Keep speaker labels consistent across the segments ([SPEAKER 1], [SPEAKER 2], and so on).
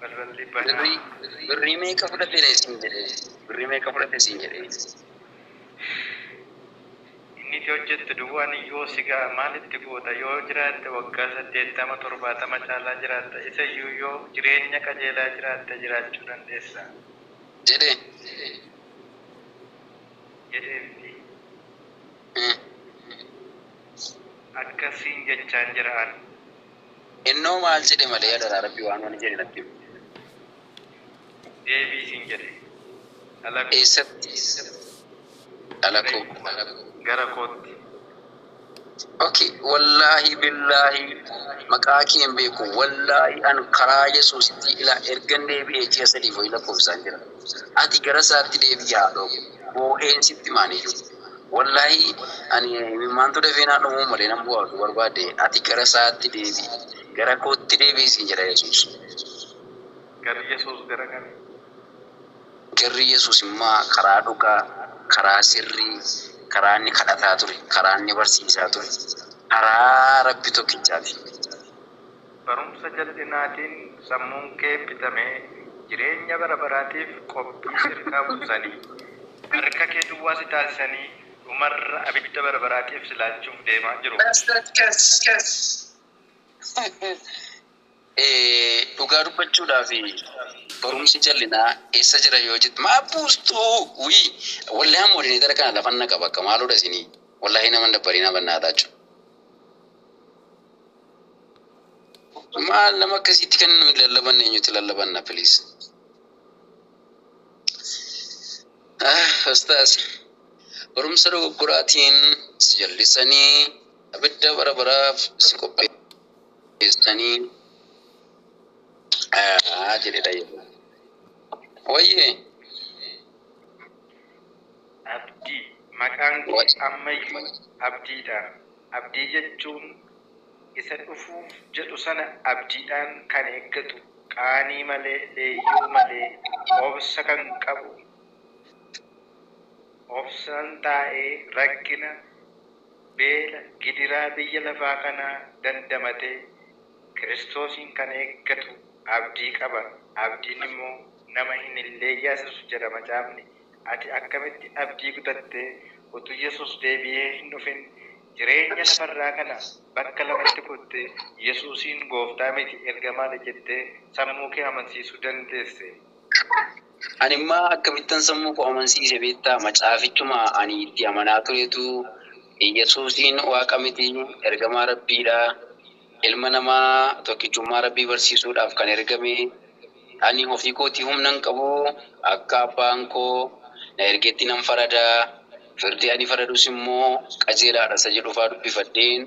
[SPEAKER 1] Barralli banaa. Birrii birrii meeqa
[SPEAKER 2] fudhate ree siin jedhe birrii meeqa fudhate siin jedhe.
[SPEAKER 1] Inni itti hojjettu duwwaan iyyuu si ga'a maal itti goota yoo jiraatte waggaa saddeettama torbaatama caalaa jiraatta isa iyyuu yoo jireenya qajeelaa jiraatte jiraachuu dandeessa. Jedhe. jedhee miti. Akkas siin jechaan jira an. Innoo
[SPEAKER 2] maal jedhe malee adaraa rabbi waan wani jedhe natti himi.
[SPEAKER 1] Deebii siin jedhe dhalakoo.
[SPEAKER 2] Eessatti dhalakoo.
[SPEAKER 1] Gara kootti.
[SPEAKER 2] Ok wallaahi billaahi maqaa kee hin beeku wallaahi an karaa yesuusitti ila ergan deebi'ee ji'a sadiif wayii lakkoofsaan jira ati gara isaatti deebi'i haadhoo koo boo'een sitti himaaniyyuu. Wollahi ani imimmaantu dafee naa dhumuu malee nan bu'aa utuu barbaadde ati gara isaatti deebi'i gara kootti deebi'i siin jedha yesuus.
[SPEAKER 1] Garri yesuus gara kami?
[SPEAKER 2] Garri yesuus immaa karaa dhugaa karaa sirrii karaa inni kadhataa ture karaa inni barsiisaa ture karaa rabbi tokkichaati.
[SPEAKER 1] Barumsa jal'inaatiin sammuun kee bitame, jireenya bara baraatiif qophii si irkaa buusanii, harka kee duwwaa si taasisanii, dhumarra abidda bara baraatiif si laachuuf deemaa jiru.
[SPEAKER 2] Dhugaa dubbachuudhaaf barumsi jal'inaa eessa jira yoo jette maaf buustu wly wallhi an moderator kana lafan naqa bakka maalodha isinii wallhi nama hin dabbarinaa bannaataa cu. Maal nama akkasiitti kan nuyi lallabanne eenyutti lallabanna please. Ah, Ustaaz. Barumsa dogoggoraatiin si jallisanii abidda bara baraaf si qopheessanii ah, jedhedha yeroo. Wayyee.
[SPEAKER 1] Abdii maqaan kee ammayyuu abdiidha. Abdii jechuun isa dhufuuf jedhu sana abdiidhaan kan eeggatu, qaanii malee, leeyyoo malee, obsa kan qabu, obsaan taa'ee rakkina, beela, gidiraa biyya lafaa kanaa dandamatee Kiristoosiin kan eeggatu abdii qaba. Abdiin immoo nama hin leeyyaasisu jedha Macaafni. Ati akkamitti abdii kutatte? Utuu Yesuus deebi'ee hin dhufin jireenya lafarraa kana bakka lamatti kutte Yesuusiin Gooftaa miti ergamaadha jettee sammuu kee amansiisuu dandeesse.
[SPEAKER 2] Ani immoo akkamittan sammuu koo amansiise beektaa? Macaafichuma ani itti amanaa turetu Yesuusiin Waaqa miti ergamaa Rabbiidha. Ilma namaa tokkichummaa Rabbii barsiisuudhaaf kan ergame, Ani ofii kootii humna hin qabu, akka Abbaan koo na ergetti nan farada, firdi ani faradus immoo qajeelaa dha isa jedhu faa dubbifadheen,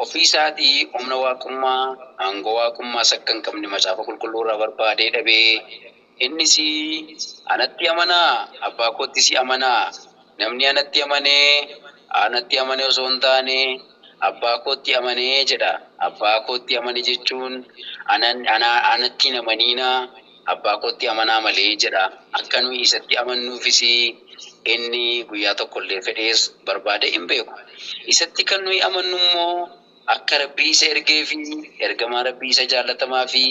[SPEAKER 2] ofii isaatii humna Waaqummaa, aangoo Waaqummaas akka hin qabne Macaafa Qulqulluu irraa barbaadee dhabe. Innis, Anatti amanaa, Abbaa koottis amanaa. Namni anatti amane, anatti amane osoo hin taane, Abbaa kootti amane jedha. Abbaa kootti amane jechuun, ana, anatti hin amaniinaa, Abbaa kootti amanaa malee jedha. Akka nuyi isatti amannuufis inni guyyaa tokko illee fedhees barbaadee hin beeku. Isatti kan nuyi amannu immoo. Akka Rabbi isa ergee fi Ergamaa Rabbii isa jaallatamaa fi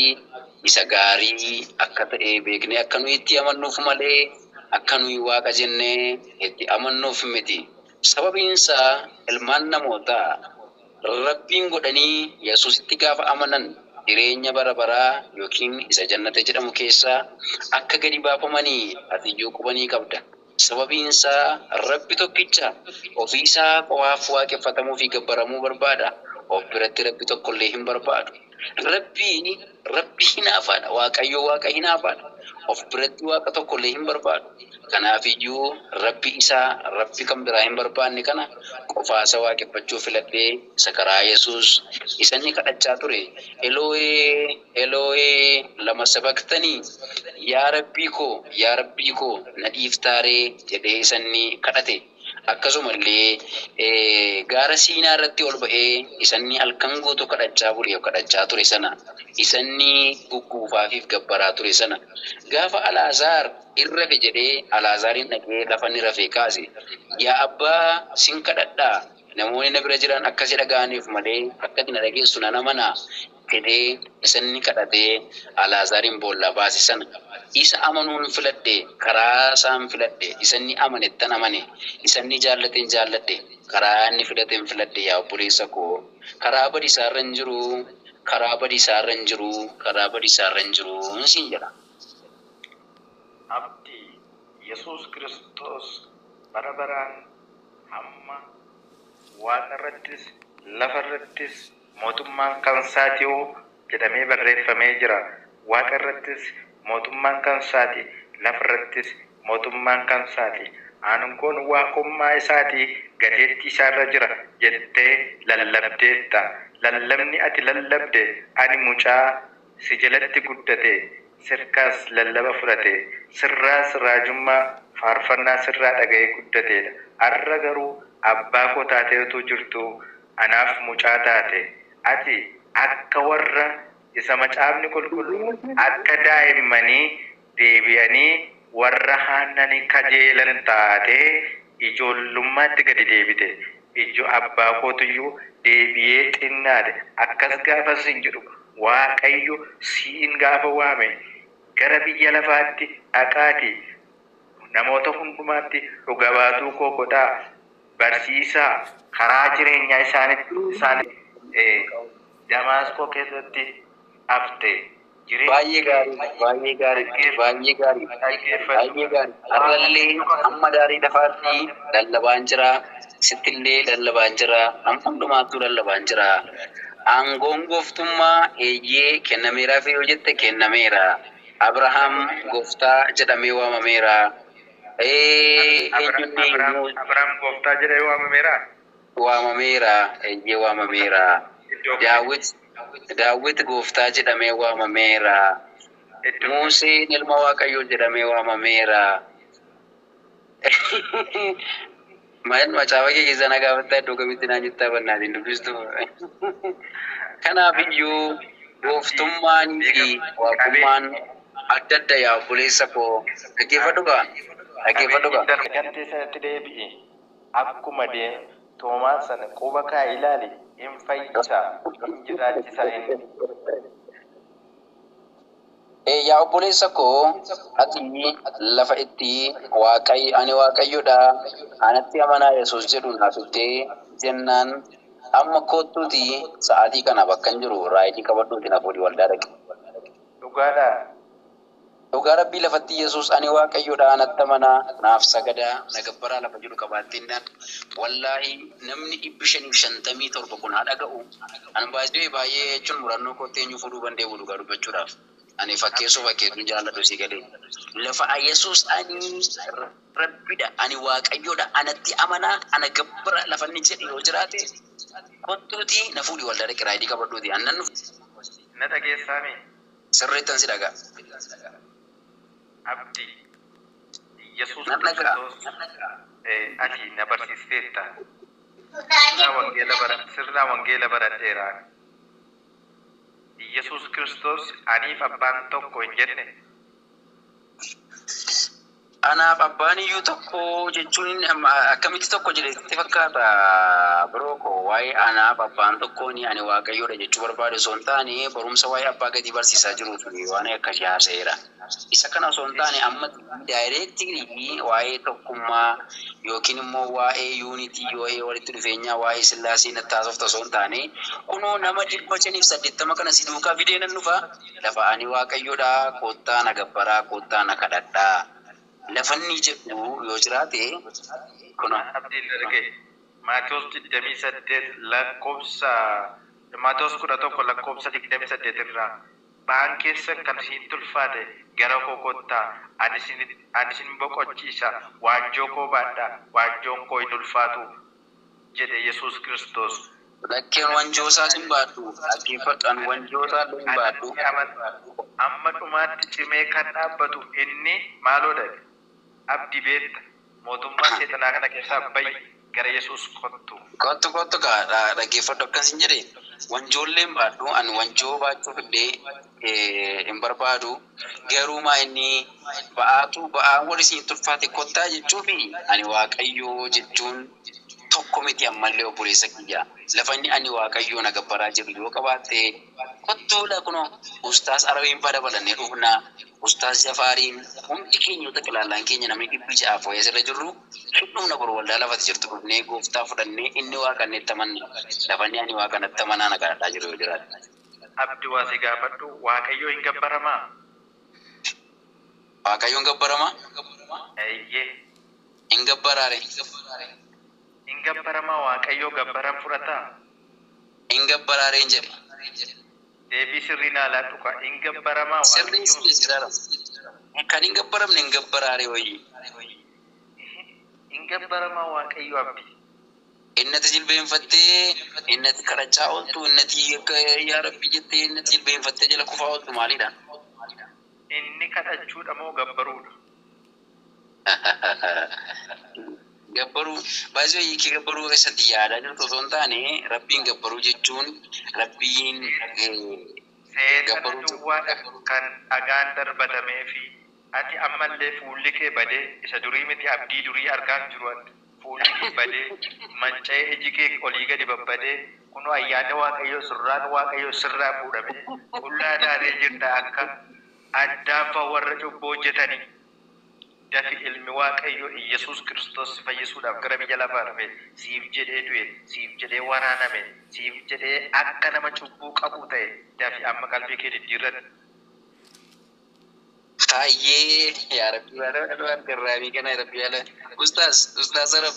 [SPEAKER 2] isa gaarii akka ta'e beeknee akka nuyi itti amannuuf malee akka nuyi Waaqa jennee itti amannuuf miti. Sababiin isaa ilmaan namootaa Rabbiin godhanii Yesuusitti gaafa amanan jireenya bara baraa ykn isa Jannata jedhamu keessaa akka gadi baafamani atiyyuu quba ni qabda. Sababiin isaa Rabbi tokkicha, ofii Isaa qofaaf waaqeffatamuu fi gabbaramuu barbaada, of biratti Rabbi tokkollee hin barbaadu. Rabbi, Rabbi hinaafaadha, Waaqayyo Waaqa hinaafaadha, of biratti Waaqa tokkollee hin barbaadu. Kanaafiyyuu Rabbi Isa, Rabbi kan biraa hin barbaanne kana qofaasa waaqeffachuu filadhe, Isa karaa Yesuus, Isa inni kadhachaa ture, Elo'ee! Eloohee lama sabaqtanii? Yaa Rabbii koo, yaa Rabbii koo, na dhiiftaa ree? jedhee isan ni kadhate. Akkasuma illee gaara Siinaa irratti ol ba'ee isan ni halkan guutuu kadhachaa bule, kadhachaa ture sana, isan ni gugguufaafii fi gabbaraa ture sana. Gaafa Alaazaar in rafe jedhee Alaazaariin dhaqee lafa ni rafee kaase. Yaa Abbaa, sin kadhadha, namoonni na bira jiran akka si dhaga'aniif malee akka ati na dhageessu nan amana. jedhee isa inni kadhatee Alaazaariin boollaa baase sana, isa amanuun filadhe, karaa isaan filadhe, isa inni amanettan amane, isa inni jaallateen jaalladhe, karaa inni filateen filadhe, yaa obboleessa koo, karaa badiisaa irra hin jiru, karaa badiisaa irra hin jiru, karaa badiisaa irra hin jiru siin jedha. Abdi,
[SPEAKER 1] Yesuus Kiristoos bara baraan hamma Waaqa irrattis, lafa irrattis Mootummaan kansaati o jedhamee barreeffamee jira. Waaqa irrattis mootummaan kansaati, lafa irrattis mootummaan kansaati. Aangoon Waaqummaa isaatii gateettii isaa irra jira jettee lallabdeetta. Lallabni ati lallabde ani mucaa si jalatti guddate, sirkaas lallaba fudhate, sirraas raajummaa, faarfannaa sirraa dhaga'ee guddateedha. Har'a garuu abbaa koo taatee utuu jirtuu, anaaf mucaa taate. Ati akka warra isa Macaafni Qulqulluun akka daa'immanii deebi'anii warra haannani kajeelan taatee ijoollummaatti gadi deebite. Ijjo abbaa kootuyyuu deebi'ee xinnaate. Akkas gaafan siin jedhu Waaqayyo siin gaafa waame gara biyya lafaatti dhaqaatii namoota hundumaatti dhuga baatuu koo godhaa. barsiisa, karaa jireenyaa isaanitti isaan Damaasqoo keessatti hafte. Baay'ee
[SPEAKER 2] gaariidha, baay'ee gaariidha, baay'ee gaariidha, baay'ee gaariidha. Har'allee hamma daarii lafaatti lallabaan jira, sittillee lallabaan jira, nama hundumaattuu lallabaan jira. Aangoon gooftummaa, eeyyee, kennameeraaf yoo jette kennameera. Abrahaam gooftaa jedhamee waamameera. Abraam
[SPEAKER 1] Gooftaa jedhee waamameeraa? Waamameera,
[SPEAKER 2] eeyyee waamameera. Daawit, Daawit Gooftaa jedhamee waamameera. Muuseen ilma Waaqayyoo jedhamee waamameera. Maal macaafa kee keessaa na gaafattaa iddoo kamitti naan jettaa bannaatiin dubbistu. Kanaaf iyyuu gooftummaan fi waaqummaan adda adda yaa obboleessa koo dhaggeeffadhu kaa dhaggeeffadhu kaa. Qabeenya
[SPEAKER 1] hin arganne sanatti deebi'i. Akkuma deem toomaan sana quba kaa'i ilaali in fayyisa in jiraachisaa inni.
[SPEAKER 2] Ee yaa obboleessa koo, ati lafa itti Waaqay, ani Waaqayyo dha, anatti amanaa Yesuus jedhu naa fiddee jennaan, amma koottuutii sa'aatii kana bakkan jiru raayidii qabadhuutii na fuudhii waldaa dhaqi. Dhugaa dhaa? Dhugaa Rabbii lafatti Yesuus ani Waaqayyo dha, anatti amanaa, naaf sagadaa, na gabbaraa lafa jedhu qabaattennaan, wallaahii namni 557 kun haa dhaga'uu. Ani by the way baay'ee jechuun murannoo kootti eenyu fuudhuu bandee'u dhugaa dubbachuudhaaf. Ani fakkeessuu fakkeessuu hin jaalladhu sii galee. Lafa Ayesuus ani Rabbidha, ani Waaqayyoodha, anatti amanaa, ana gabbara lafa inni jedhu yoo jiraate kottuutii na fuudhi waldaa dhaqi raayidii qabadhuutii ani nan dhufa. Na dhageessaa
[SPEAKER 1] mee? Sirriittan si
[SPEAKER 2] dhaga'a.
[SPEAKER 1] Abdi, Iyyasuus Kiristoos ati na barsiisteetta. Sirna wangeela baradheera ani. Iyyasuus Kiristoos aniif abbaan tokko hin jenne?
[SPEAKER 2] Anaaf abbaan iyyuu tokko jechuun akkamitti tokko jedhe sitti fakkaata bro koo waa'ee anaaf abbaan tokkoon ani waaqayyoodha jechuu barbaade osoo hin taane barumsa waa'ee abbaa gadii barsiisaa jiruuf waanai akkasii haasa'eera. Isa kana osoo hin taane amma directly waa'ee tokkummaa yookiin immoo waa'ee unity, waa'ee walitti dhufeenyaa, waa'ee sillaasee natti haasofta osoo hin taane kunoo nama 580 kana si duukaa fidee nan dhufa lafa ani Waaqayyodha koottaa na gabbaraa koottaa na kadhadhaa lafa inni
[SPEAKER 1] jedhu
[SPEAKER 2] yoo jiraate kunoo.
[SPEAKER 1] Kan
[SPEAKER 2] abdiin erge.
[SPEAKER 1] Maatewos 28 lakkoofsa Maatewos 11 lakkoofsa 28 irraa. Ba'aan keessan kan isinitti ulfaate gara koo kottaa, ani isin, ani isin boqochiisa, waanjoo koo baadhaa, waanjoon koo hin ulfaatuu jedhe Yesuus Kiristoos. Lakki an wanjoo
[SPEAKER 2] isaas hin baadhu, dhaggeeffadhu, an wanjoo isaa illee hin baadhu. Anatti amanaa, amma
[SPEAKER 1] dhumaatti cimee kan dhaabbatu inni maaloo dha? Abdi beetta mootummaa seexanaa kana keessaa bayi gara yesuus kottu. Kottu kottu kaa
[SPEAKER 2] dhageeffadhu akkan sin jedhe wanjoolleen baadhu an wanjoo baachuf illee hin barbaadu garuu maa inni ba'aatu ba'aan wal isinitti ulfaate kottaa jechuufi ani waaqayyoo jechuun tokko miti ammallee obboleessa kiyya lafanni ani waaqayyoo na gabbaraa jedhu yoo qabaatte kottuudha kunoo ustaaz arawiin badabalannee dhufna Ustaaz Jafaariin hundi keenya yoo xaqilaallaan keenya namni dhibbi ja'aa fooyee as irra jirru hin dhumna boru waldaa lafati jirtu dhufnee gooftaa fudhannee inni waaqa inni itti amanne lafanni ani waaqa natti amanaa na kadhadhaa jiru yoo jiraate. Abdi waa si
[SPEAKER 1] gaafadhu waaqayyoo hin gabbaramaa?
[SPEAKER 2] Waaqayyoo hin gabbaramaa? Eeyyee.
[SPEAKER 1] Hin
[SPEAKER 2] gabbaraa ree?
[SPEAKER 1] Hin gabbaramaa waaqayyoo gabbaran fudhataa? Hin
[SPEAKER 2] gabbaraa reen jedhe. Deebii sirrii
[SPEAKER 1] naa laadhu kaa. Hin gabbaramaa Sirrii waaqayyoo sirrii sirara
[SPEAKER 2] Hin kan hin gabbaramne hin gabbaraa ree hoyii. Ehe
[SPEAKER 1] hin gabbaramaa waaqayyoo abdii. Innati
[SPEAKER 2] jilbeenfattee innati kadhachaa oltu innati akka yaa rabbii jettee innati jilbeenfattee jala kufaa oltu maalidha. Inni
[SPEAKER 1] kadhachuudha moo gabbaruudha.
[SPEAKER 2] Gabbaruu by the way hiikii gabbaruu keessatti yaadaa jirtu osoo hin taane rabbiin gabbaruu jechuun rabbiin
[SPEAKER 1] Seexana duwwaadha kan dhagaan darbatameefi ati ammallee fuulli kee badee isa durii miti abdii durii argaan jiru an fuulli kee badee manca'ee iji kee olii gadi babbadee kunoo ayyaanni waaqayyoo surraan waaqayyoo sirraa fuudhamee qullaa taatee jirta akka Addaaffa warra cubbuu hojjetanii. Dafi ilmi Waaqayyoo Iyyasuus Kiristoos si fayyisuudhaaf gara biyya lafaa dhufe, siif jedhee du'e, siif jedhee waraaname, siif jedhee akka nama cubbuu qabuu ta'e, dafi amma qalbii kee diddiirradhu.
[SPEAKER 2] Hayyee yaa rabbii waanuma dhumaan garraabii kanaa rabbii waanuma ustaaz ustaaz arab.